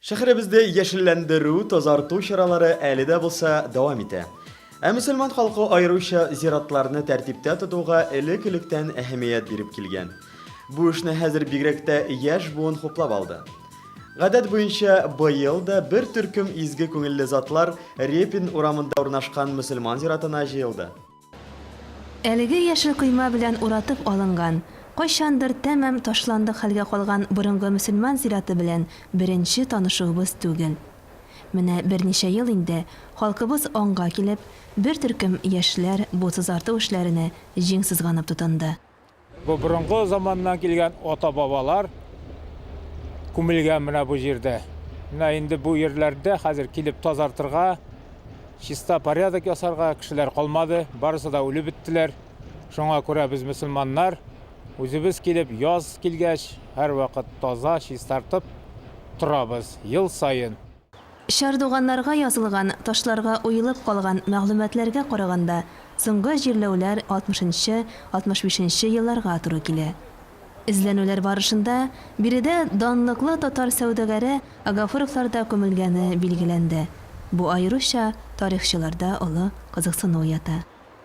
Шәһәребезне яшелләндерү, тазарту чаралары әле дә булса дәвам итә. Ә мөселман халкы аеруча зиратларны тәртиптә тотуга элек-электән әһәмият биреп килгән. Бу эшне хәзер бигрәк тә яшь буын хуплап алды. Гадәт буенча быел да бер төркем изге күңелле затлар Репин урамында урнашкан мөселман зиратына җыелды. Әлеге яшел койма белән уратып алынган, кайчандыр тәмам ташландык хәлгә калган борынгы мөселман зираты белән беренче танышуыбыз түгел. Менә берничә ел инде халкыбыз аңга килеп, бер төркем яшьләр бу сызарту эшләренә җиң сызганып тотынды. Бу борынгы заманнан килгән ата-бабалар күмелгән менә бу җирдә. Менә инде бу җирләрдә хәзер килеп тазартырга, чиста порядок ясарга кешеләр калмады, барысы да үлеп беттеләр. Шуңа күрә без мөселманнар үзебез килеп яз килгәч, һәрвакыт таза, чистартып торабыз ел саен. Чардуганнарга язылган ташларга уелып калган мәгълүматларга караганда, соңгы җирләүләр алтмышынчы, алтмыш бишенче елларга туры килә. Эзләнүләр барышында биредә данлыклы татар сәүдәгәре Агафуровлар да күмелгәне билгеләнде. Бу аеруча тарихчыларда олы кызыксыну уята.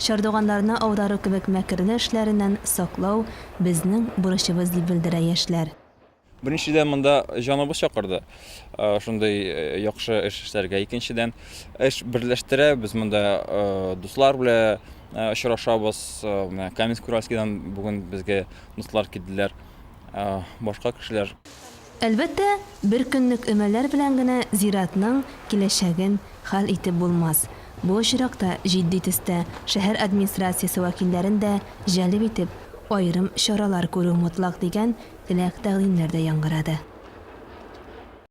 Чардуганнарны аудару кебек мәкерле эшләреннән саклау, безнең бурычыбыз, дип белдерә яшьләр. Беренчедән, монда җаныбыз чакырды шундый яхшы эш эшләргә. Икенчедән, эш берләштерә, без монда дуслар белән очрашабыз. Менә Каменск-Уральскидан бүген безгә дуслар килделәр, башка кешеләр. Әлбәттә, бер көнлек өмәләр белән генә зиратның киләчәген хәл итеп булмас. Бу очракта җитди төстә шәһәр администрациясе вәкилләрен дә җәлеп итеп, аерым чаралар күрү мотлак дигән теләк-тәкъдимнәр дә яңгырады.